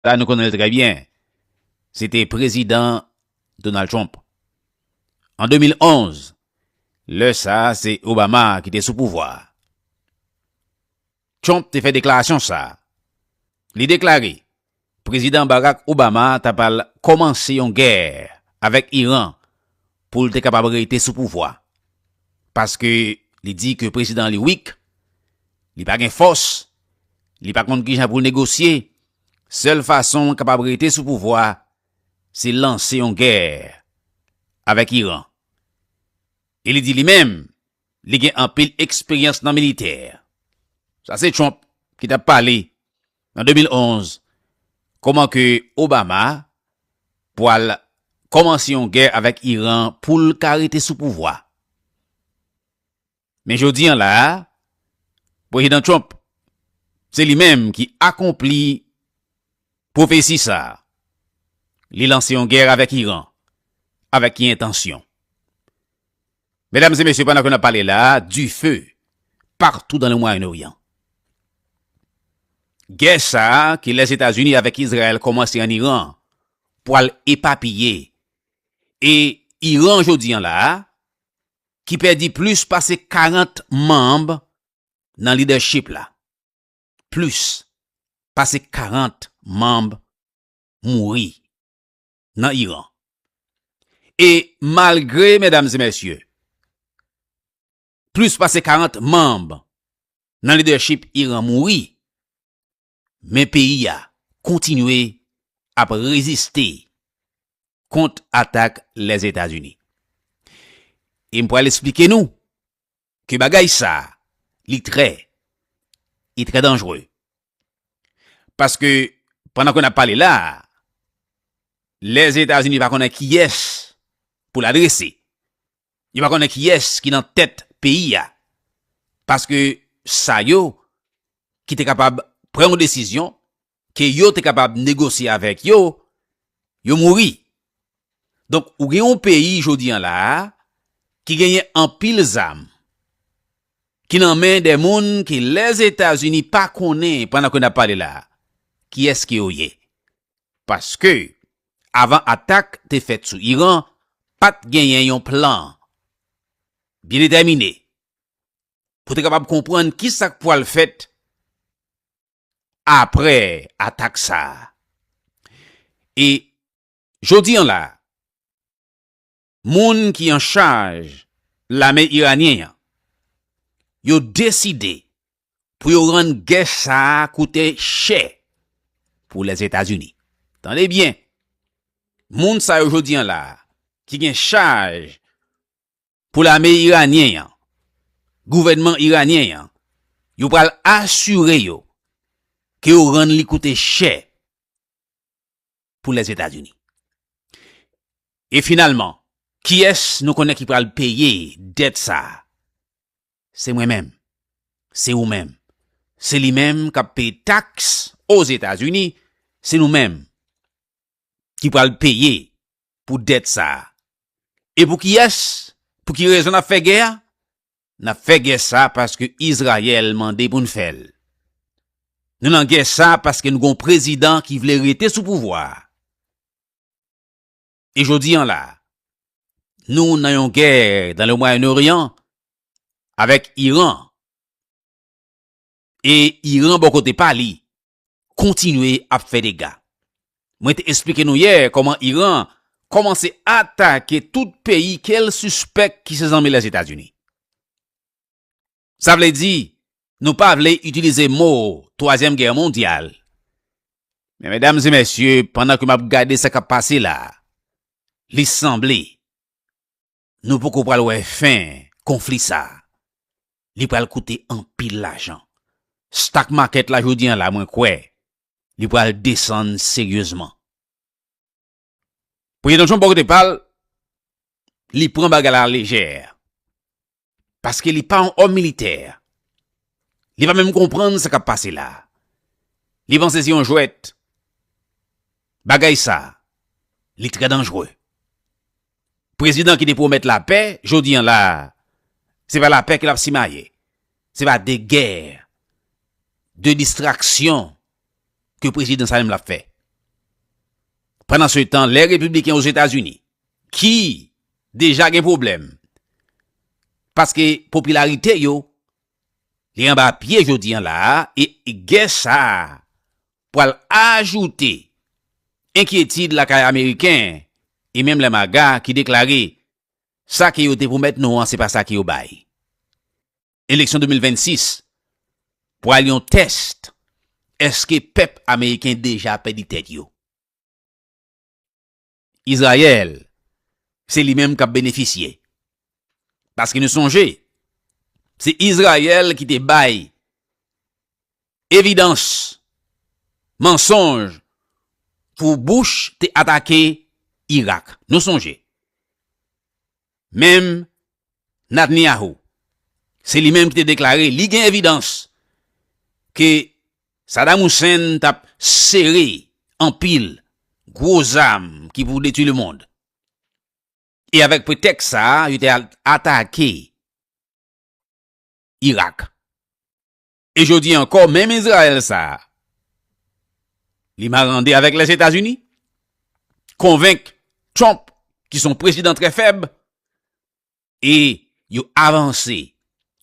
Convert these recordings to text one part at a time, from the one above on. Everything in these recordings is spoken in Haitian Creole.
Sa nou konnen l trè byen, se te Prezidan Donald Trump. An 2011, lè sa a se Obama ki te sou pouvwa a, Trump te fè deklarasyon sa a. Li deklare Prezidan Barack Obama t apral kòmanse yon gè avèk Iran pou l te kapab rete sou pouvwa, paske li di ke prezidan li weak, li pa gen fòs Li pa konn kijan pou l negosye, sèl fason l kapab rete sou pouvwa se lanse yon gè avèk Iran. E li di li menm li gen anpil eksperyans nan militè. Sa se Trump ki t ap pale nan 2011 kòman ke Obama pwal kòmanse yon gè avèk Iran pou l ka rete sou pouvwa. Men jodi an la a, Prezidan Trump, se li menm ki akonpli pwofesi sa a. Li lanse yon gè avèk Iran. Avèk ki entansyon? Medam e mesye, pandan ke n ap pale la a, dife patou dan le Mwayen Oryan. Gè sa a ke Lèzetazini avèk Izrayèl kòmanse an Iran pwal epapiye. E Iran jodi an la a, ki pèdi plis pase 40 manb nan lidèchip la. Plis pase 40 manb mouri nan Iran. E malgre, medam e mesye, plis pase 40 manb nan lidèchip Iran mouri, Men peyi a kontinye ap reziste kont atak Lèzetazini. E m pral esplike nou ke bagay sa a li trè e trè danjre. Paske pandan ke n ap pale la a, Lèzetazini pa konnen kiyès pou l adrese. Yo pa konnen kiyès ki nan tèt peyi a. Paske sa yo ki te kapab pran yon desizyon, ke yo te kapab negosye avèk yo, yo mouri. Donk ou gen yon peyi jodi an la a, ki genyen anpil zam, ki nan men de moun ke Lèzetazini pa konnen pandan ke n ap pale la a, kiyès ke yo ye. Paske avan atak te fèt sou Iran, pa t genyen yon plan byen detèmine pou te kapab konprann ki sa k pwal fèt apre atak sa a. E jodi an la a, moun ki an chaj lame iranyen an yo deside pou yo rann gè sa a koute chè pou Lèzetazini. Tande byen, moun sa yo jodi an la a ki gen chaj pou lame iranyen an, gouvènman iranyen an, yo pral asire yo ke yo rann li koute chè pou Lèzetazini. E finalman, kiyès nou konnen ki pral peye dèt sa a? Se mwen menm. Se ou menm. Se li menm k ap peye taks Ozetazini. Se nou menm ki pral peye pou dèt sa a. E pou kiyès, pou ki rezon n ap fè gè a? N ap fè gè sa a paske Izrayèl mande pou n fè l. Nou nan gè sa a paske nou gen yon prezidan ki vle rete sou pouvwa a. E jodi an la a, nou nan yon gè nan Le Mwayen Oryan avèk Iran. E Iran bò kote pa li, kontinye ap fè dega. Mwen te esplike nou yè kòman Iran kòmanse atake tout peyi ke l sispèk ki se zanmi Lèzetazini. Sa vle di, nou pa vle itilize mo twazyèm gè mondyal. Men medam e mesye, pandan ke m ap gade sa k ap pase la, li sanble. Nou poko pral wè fen konfli sa. Li pral koute anpil lajan. Stock market la jodi an la mwen kwè li pral desann seryezman. Premye Donchon bò kote pal, li pran bagay la alejè. Paske li pa yon òm militè. Li pa menm konprann sa kap pase la. Li panse se yon jwèt. Bagay sa, li trè danjre. Prezidan ki te pwomèt lapè, jodi an la a, se pa lapè ke l ap simaye. Se pa de gè, de distraksyon ke prezidan sa menm l ap fè. Pandan se tan, lè Repibliken o Zetazini, ki deja gen pwoblèm, paske popilarite yo li anba pye jodi an la a, e gè sa a, pral ajoute enkyetid lakay Ameriken e menm lè MAGA ki deklare sa ke yo te pwomèt nou an se pa sa ke yo bay. Eleksyon 2026 pral yon test eske pèp Ameriken deja pèdi tèt yo. Izrayèl, se li menm k ap benefisye. Paske nou sonje, se Izrayèl ki te bay evidans mansonj pou Bush te atake Irak. Nou sonje. Menm Natnyahu, se li menm ki te deklare li gen evidans ke Sadam Hussein t ap sere anpil gwo zam ki pou detwi lemond. E avèk pretèks sa, yo te al atake Irak. E jodi ankò menm Izrayèl sa a li marande avèk Lèzetazini, konvenk Trump ki son prezidan trè fèb e yo avanse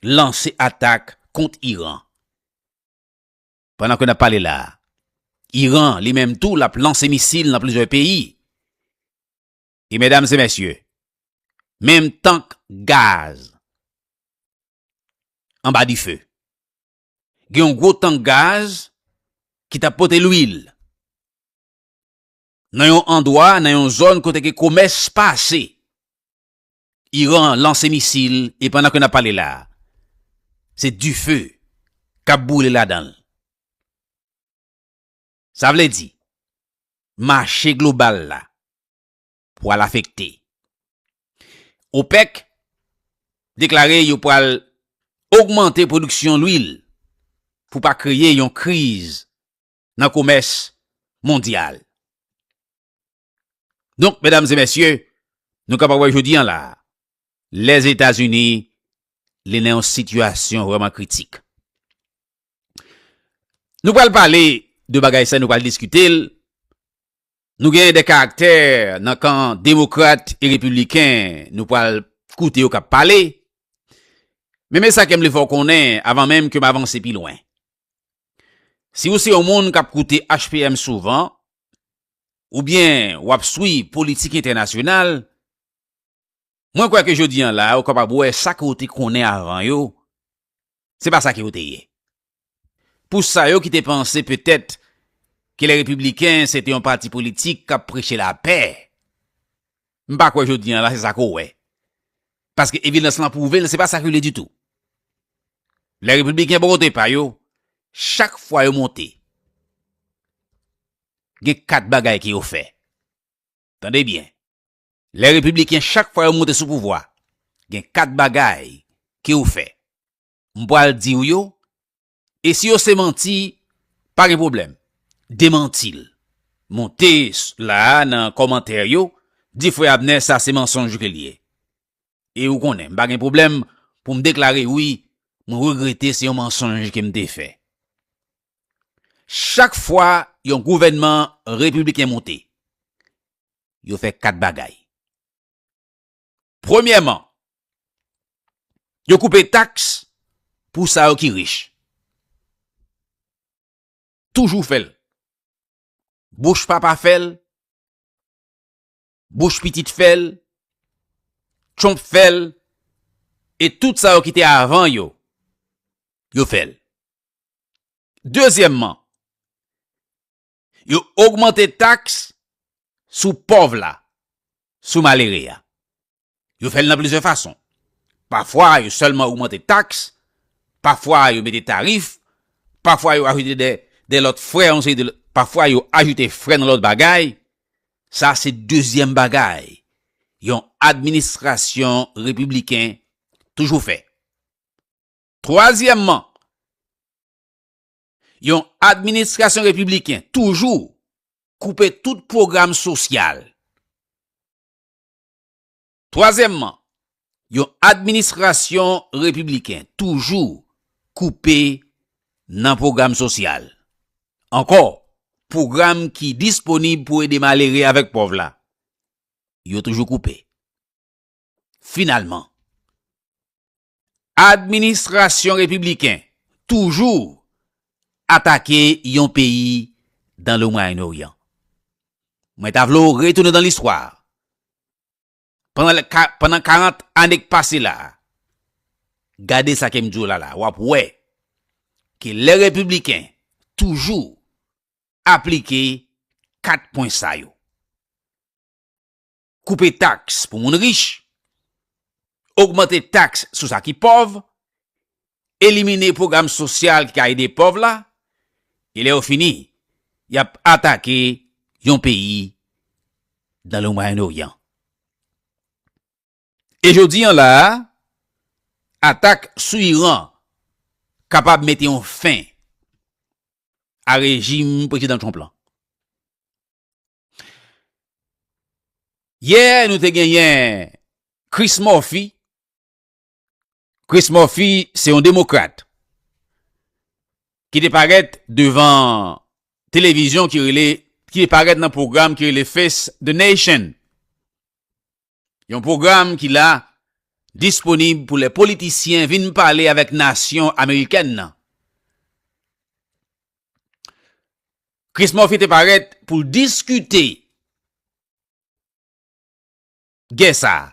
lanse atak kont Iran. Pandan ke n ap pale la a, Iran li menm tou l ap lanse misil nan plizyè peyi. E medam e mesye, menm tank gaz anba dife. Gen yon gwo tank gaz ki tap pote lwil. Nan yon andwa, nan yon zòn kote ke komès pase. Iran lanse misil e pandan ke nap pale la, se dife kap boule ladanl. Sa vle di, mache global la, pwal afekte. OPEC deklare yo pwal ogmante pwodiksyon lwil pou pa kreye yon kriz nan komès mondyal. Donk, medam e mesye, nou kapab wè jodi an la, Lèzetazini li nan yon sitiyasyon vreman kritik. Nou pwal pale de bagay sa, nou pwal diskite l, Nou gen de karaktè nan kan demokrat e repibliken nou pral koute yo kap pale. Men men sa kem vle fè w konnen avan menm ke m avanse pi lwen. Si ou se yon moun kap koute HPM souvan, oubyen wap swiv politik entènasyonal, Mwen kwè ke jodi an la a ou kapab wè sa ke ou te konnen avan yo, se pa sa ke yo te ye. Pou sa yo ki te panse petèt ke lè Repibliken se te yon pati politik kap preche lapè, m pa kwè jodi an la se sa ke ou wè. Paske evidans lan pwouve l se pa sa ke l ye ditou. Lè Repibliken bò kote pa yo, chak fwa yo monte, gen 4 bagay ke yo fè. Tande byen. Lè repibliken chak fwa yo monte sou pouvwa gen 4 bagay ke yo fè m pwal diw yo e si yo se manti pa gen pwoblèm demantil monte la nan kòmantè yo di frè Abner sa se mansonj ke liye e ou konnen m pa gen pwoblèm pou m deklare wi mwen regrete se yon mansonj ke m te fè chak fwa yon gouvènman repibliken monte. yo fè kat bagay. Premyèman, yo koupe taks pou sa yo ki rich. Toujou fè l. Bouch papa fè l, bouch pitit fè l, Trump fè l, e tout sa yo ki te avan yo, yo fè l. Dezyèmman, Yo ogmante taks sou pòv la, sou malere a. Yo fè l nan plizyè fason. Pafwa yo sèlman ogmante taks, pafwa yo mete tarif, pafwa yo ajoute de lòt frè, pafwa yo ajoute frè nan lòt bagay. Sa se dezyèm bagay yon administrasyon repibliken toujou fè. Twazyèmman, yon administrasyon repibliken toujou koupe tout pwogram sosyal. Twazyèmman, yon administrasyon repibliken toujou koupe nan pwogram sosyal. Ankò, pwogram ki disponib pou ede malere avèk pòv la, yo toujou koupe. Finalman, Administrasyon Repibliken toujou atake yon peyi dan le Mwayen Oryan. Mwen ta vle w retounen dan listwa. Pandan 40 ane k pase la, gade sa ke m di w la la, w ap wè ke lè Repibliken toujou aplike 4 pwen sa yo. koupe taks pou moun rich, ogmante taks sou sa ki pòv, elimine pwogram sosyal ki ka ede pòv la, e lè yo fini, y ap atake yon peyi nan le Mwayen Oryan. E jodi an la a, atak sou Iran kapab mete yon fen a rejim Prezidan Trump lan. Yè nou te genyen Chris Murphy. Chris Murphy se yon demokrat. Ki te paret devan televizyon ki rele, ki te paret nan program ki rele Face the Nation. Yon pwogram ki la disponib pou lè politisyen vin pale avèk nasyon amerikèn nan. Chris Murphy te parèt pou l diskite gè sa a.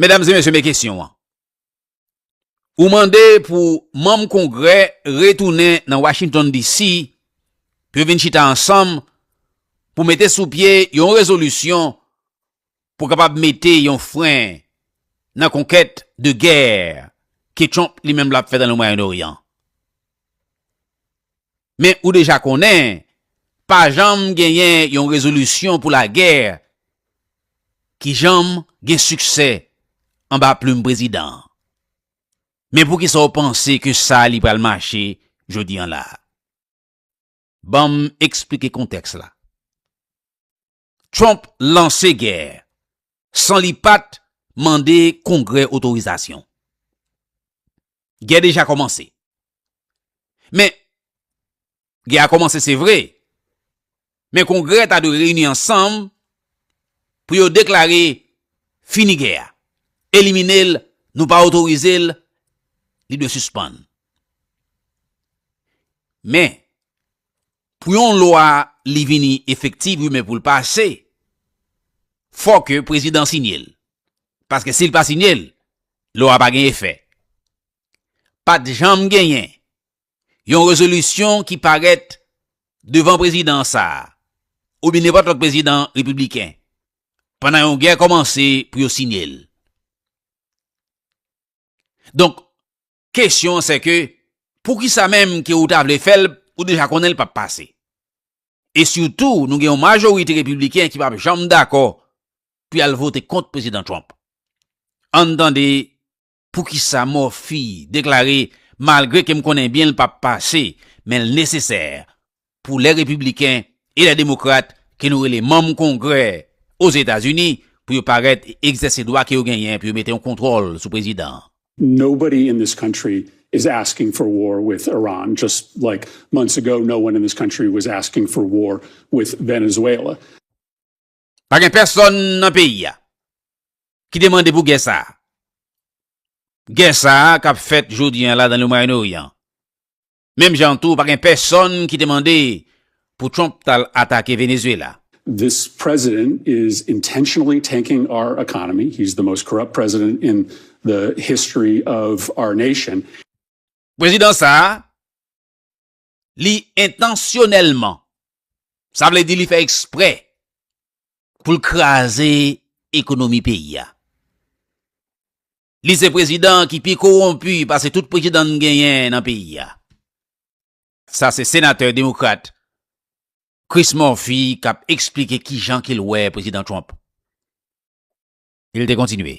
Medam e mesye men kesyon an. Ou mande pou manm kongrè retounen nan Washington DC pou yo vin chita ansanm pou mete sou pye yon rezolisyon pou kapab mete yon fren nan konkèt de gè ke Trump li menm l ap fè nan le Mwayen Oryan. Men ou deja konnen, pa janm genyen yon rezolisyon pou lagè ki janm gen siksè anba plim prezidan an. Men poukisa w panse ke sa li pral mache jodi an la a? Ban m eksplike kontèks la. Trump lanse gè san li pat mande Kongrè otorizasyon. Gè deja kòmanse. Men, gè a kòmanse se vre, men Kongrè ta dwe reyini ansanm pou yo deklare fini gè a, elimine l, nou pa otorize l, li dwe sispann. Men, Pou yon lwa li vini efektiv wi men pou l pase fò ke prezidan sinye l. Paske si l pa sinye l, lwa a pa gen efè. Pat janm genyen yon rezolisyon ki parèt devan prezidan sa a oubyen nenpòt lòt prezidan repibliken pandan yon gè kòmanse pou yo sinye l. Donk, Kesyon an sè ke, poukisa menm ke ou ta vle fèl, ou deja konnenl pap pase. E sitou nou gen yon majorite repibliken ki pap janm dakò pou yal vote kont Prezidan Trump. Ann tande poukisa Murphy deklare malgre kem konnen byenl pap pase, menl nesesè pou lè Repibliken e lè Demokrat ke nou rele manm Kongrè Ozetazini pou yo parèt e egzèse dwa ke yo genyen pou yo mete yon kontwòl sou Prezidan an. Nobody in this country is asking for war with Iran just like months ago no one in this country was asking for war with Venezuela. Pa gen pèsòn nan peyi a ki te mande pou gè sa a. Gè sa a kap fèt jodi an la dan le Mwayen Oryan Menm jan an tou pa gen pèsonn ki te mande pou Trump tal atake Venezuela. This president is intentionally tanking our economy, he's the most corrupt president in the history of our nation. Prezidan sa a, li entansyonèlman, sa vle di li fè eksprè pou l kraze ekonomi peyi a. Li se prezidan ki pi kowonpi pase tout prezidan n genyen nan peyi a. Sa se senatè demokrat Chris Murphy k ap eksplike kijan ke l wè Prezidan Trump. L te kontinye.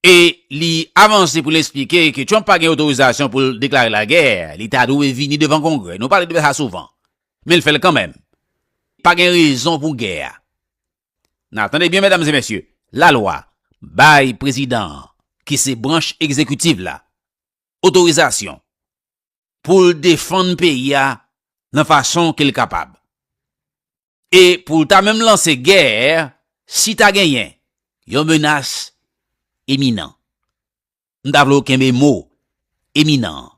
E li avanse pou l esplike ke Trump pa gen otorizasyon pou l deklare lagè, li ta dwe vini devan Kongrè. Nou pale de sa souvan, men l fè l kanmenm. Pa gen rezon pou gè a. N a tande byen medam e mesye, lalwa bay prezidan an, ki se branch egzekitiv la, otorizasyon pou l defann peyi a nan fason ke l kapab. E pou l ta menm lanse gè si ta genyen yon menas eminan. M ta vle w kenbe mo eminan an.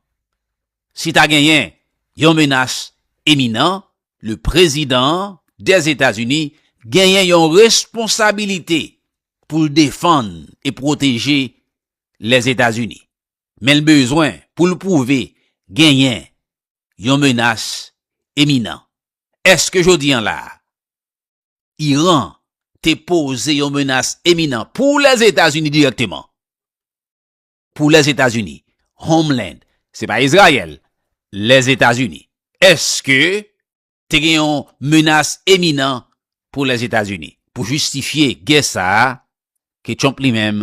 Si ta genyen yon menas eminan, le prezidan Dèzetazini genyen yon responsabilite pou l defann e pwoteje Lèzetazini. Men l bezwen pou l pwouve genyen yon menas eminan. Èske jodi an la a, Iran te poze yon menas eminan pou Lèzetazini dirèkteman? Pou Lèzetazini, Homeland, se pa Izrayèl, Lèzetazini. Èske te gen yon menas eminan pou Lèzetazini pou jistifye gè sa a ke Trump li menm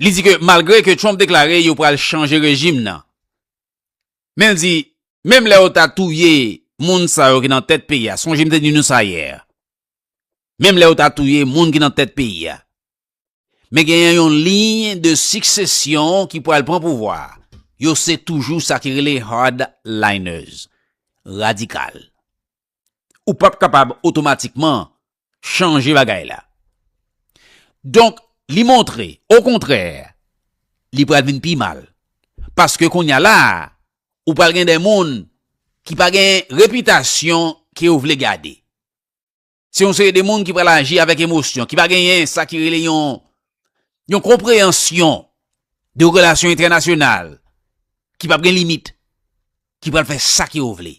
Li di ke malgre ke Trump deklare yo pral chanje rejim nan, men l di menm lè yo ta touye moun sa yo ki nan tèt peyi a, sonje m te di nou sa yè, menm lè yo ta touye moun ki nan tèt peyi a, men genyen yon liy de siksesyon ki pral pran pouvwa a, yo se toujou sa ki rele hardliners, radikal. ou pap kapab otomatikman chanje bagay la. Donk, li montre, okontrè, li pral vin pi mal. Paske kounye a la, ou pral gen de moun ki pa gen repitasyon ke yo vle gade. Se yon seri de moun ki pral aji avèk emosyon, ki pa genyen sa ki rele yon yon konpreyansyon de relasyon entènasyonal, ki pap gen limit, ki pral fè sa ke yo vle.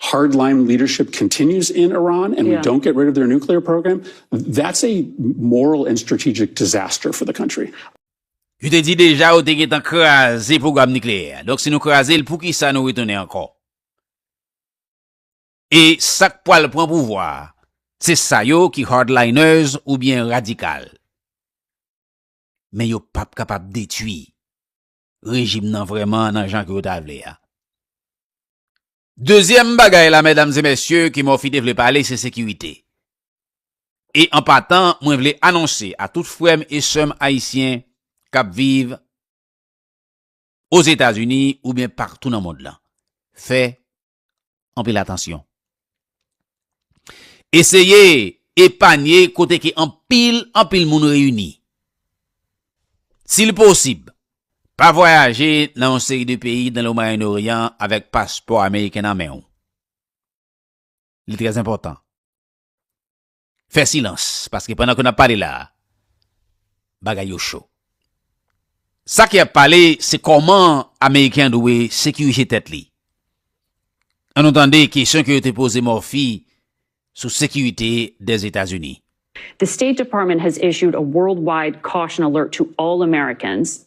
hard line leadership continues in Iran and yeah. we don't get rid of their nuclear program, that's a moral and strategic disaster for the country. Yo te di deja yo te gen tan kraze program nucléaire. Donc si nou kraze l, pou ki sa nou retounen ankò? E sak pwal pran pouvwa, se sa yo ki hardliners ou bien radikal. Men yo pap kapab detui rejim nan vrèman nan jan ke yo ta vle a. Dezyèm bagay la mèdam e mèsye ke Murphy te vle pale se sekirite. E an patan mwen vle anonse a tout frè m e sè m ayisyen k ap viv Ozetazini oubyen paktou nan mond lan, fè anpil atansyon. Eseye epanye kote ke anpil, anpil moun reyini. Si li posib, pa vwayaje nan yon seri de peyi nan le Mwayen Oryan avèk paspò Ameriken nan men ou. Li trèzenpòtan. fè silans paske pandan ke nap pale la a bagay yo cho. Sa ki ap pale se kòman ameriken dwe sekirije tèt li. An nou tande kesyon ke yo te poze Murphy sou sekirite dè Etazini. The State Department has issued a worldwide caution alert to all Americans.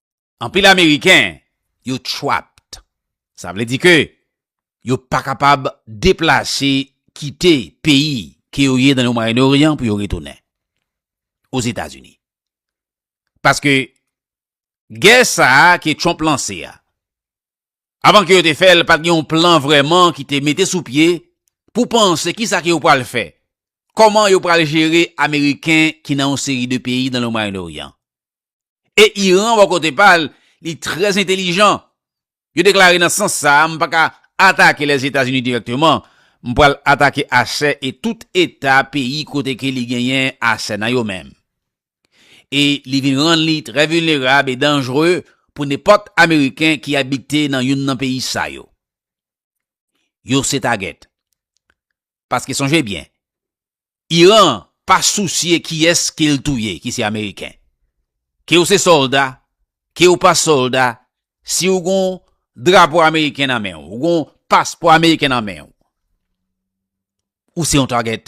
anpil ameriken yo trapped. Sa vle di ke yo pa kapab deplase kite peyi ke yo ye nan le Moyen Orient pou yo retounen o Zeta Zini. Paske gè sa a ke Trump lanse a, avan ke yo te fè l pat gen yon plan vreman ki te mete sou pye pou panse ki sa ke yo pral fè, koman yo pral jere ameriken ki nan yon seri de peyi nan le Moyen Orient. E Iran bò kote pa l, li trè entelijan. Yo deklare nan sans sa a, m pa ka atake Lèzetazini dirèkteman, m pral atake asè e tout eta peyi kote ke li genyen asè nan yo menm. E li vin rann li trè vilnerab e danjre pou nenpòt Ameriken ki abite nan youn nan peyi sa yo. Yo se tagèt. Paske sonje byen, Iran pa sousye kiyès ke l touye ki se Ameriken. Ke w se sòlda, ke w pa sòlda, si w gon drapo Ameriken nan men w, w gon paspò Ameriken nan men w, ou se yon target.